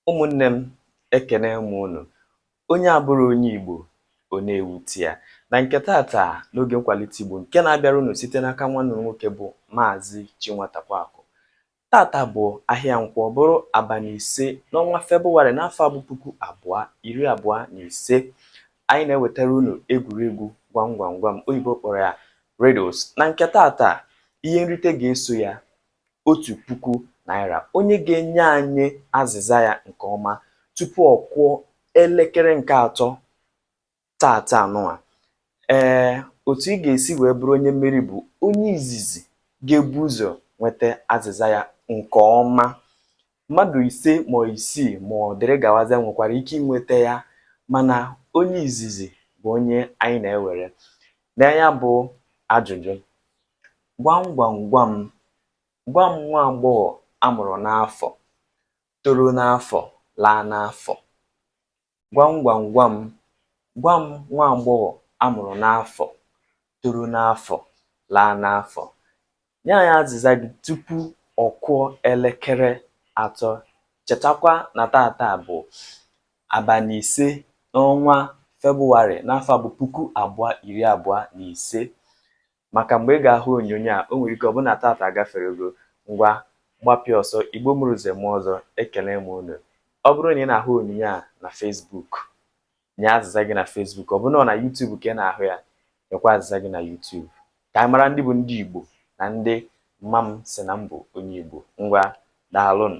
Ụmụnne m, ekene m unu. Onye abụrọ onye Igbo, ọ na-ewute ya. Na nke tata n'oge nkwalite Igbo nke na-abịara unu site n'aka nwanne unu nwoke bụ Maazị Chinwatakwakụ. Tata bụ ahịa Nkwọ bụrụ abalị ise n'ọnwa Febụwarị n'afọ bụ puku abụọ iri abụọ na ise. Anyị na-ewetara unu egwuregwu gwam gwam gwam oyibo kpọrọ ya riddles. Na nke tata ihe nrite ga-eso ya otu puku naira onye ga-enye anyị azịza ya nke ọma tupu ọ kụọ elekere nke atọ tata a nụwa ee otu ị ga-esi wee bụrụ onye mmeri bụ onye izizi ga-ebu ụzọ nweta azịza ya nke ọma Mmadụ ise ma isii ma ọ dịrị gawazịa nwekwara ike inweta ya mana onye izizi bụ onye anyị na-ewere. Nee ya bụ ajụjụ. Gwam gwam gwam, gwa m nwa agbọghọ a mụrụ n'afọ, toro n'afọ, laa n'afọ. Gwam gwam gwam gwa m nwa agbọghọ a mụrụ n'afọ, toro n'afọ, laa n'afọ. Nye anyị azịza gị tupu ọ kụọ elekere atọ. Chetakwa na tata bụ abalị ise n'ọnwa Febụwarị n'afọ bụ puku abụọ iri abụọ na ise. maka mgbe ị ga-ahụ onyonyo a, o nwere ike ọ bụrụ na tata agaferego. Ngwa, gbapịa ọsọ, Igbo mụrụ Nze mụọ Ọzọ, ekele m unu. Ọ bụrụ na ị na-ahụ onyonyo a na Facebook, nye azịza gị na Facebook. Ọ bụrụ na ọ na YouTube ka ị na-ahụ ya, nyekwa azịza gị na YouTube. Ka anyị mara ndị bụ ndị Igbo na ndị mma m sị na m bụ onye Igbo. Ngwa, daalụnụ.